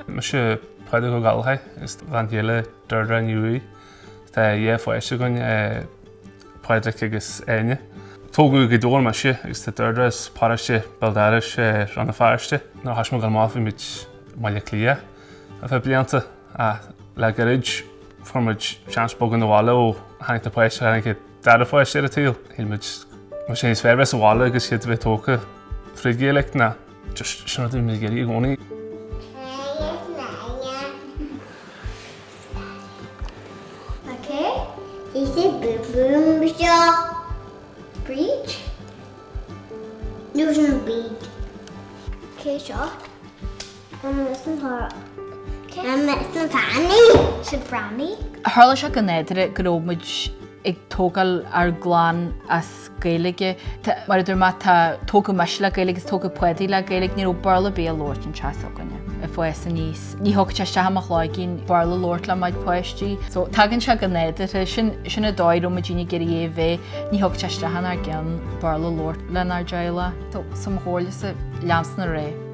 Mise Pádraig Ó Gallchóir is mo bhean chéile Deirdre Ní Ruaidh. Tá dhá pháiste againn, Pádraic agus Áine. Tógadh i nGaoth Dobhair mise agus tá Deirdre as paróiste béal dorais, Rann na Feirste. Nuair a thoisigh muid ag gabháil amach bhí muid i mBaile Átha Cliath ar feadh blianta. Ach le gairid fuair muid seans bogadh na bhaile ó tháinig na páistí tháinig an dara páiste ar an tsaol. Shíl muid más é is fearr bheith sa bhaile agus iad a bheith tógtha fríd Ghaeilge ná just sin rud a bhí muid ag iarraidh i gcónaí. Cé seo? An mbeidh sna hárach? An mbeidh sna tanaí? Siad Bradhnaí? Tharla sé go nádúrtha go raibh muid ag tógáil ár gclann as Gaeilge. Mar a dúirt mé, tá tógadh mise le Gaeilge agus tógadh Paudie le Gaeilge. Ní raibh Béarla ar bith á labhairt sa teach s'againne ag fás aníos. Ní thiocfadh sé isteach i mo chloigeann Béarla a labhairt le mo chuid páistí. So tagann sé go nádúrtha. Sin an dóigh a raibh muidinne ag iarraidh é a bheith. Ní thiocfadh sé isteach inár gceann Béarla a labhairt lenár dteaghlach. So is é mo chomhairlese, leanstan ar é.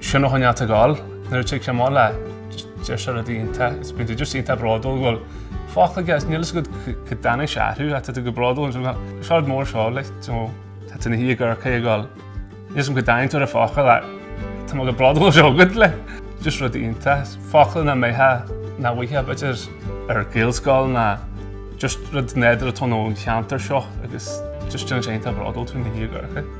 Sionnach an eadta gal nuair a thig sé na bhaile. Deir sé rudaí iontacha is bíonn tú just iontach bródúil go bhfuil focla aige is níl a fhios agat cá dtáinig sé orthu ach tá tú chomh bródúil is bhfuil sé rud mór seo like you know tá tú ina shuí ag amharc air ag gabháil níl a fhios agam cá dtáinig tú ar an focal ach tá mé chomh bródúil tá a fhios agat like just rudaí iontacha. Focla nach mbeadh nach bhfuightheá b'fhéidir ar Ghaelscoil ná just rud nádúrtha atá ann ón cheantar seo agus just déanann sé iontach bródúil tú ina shuí ag amharc air.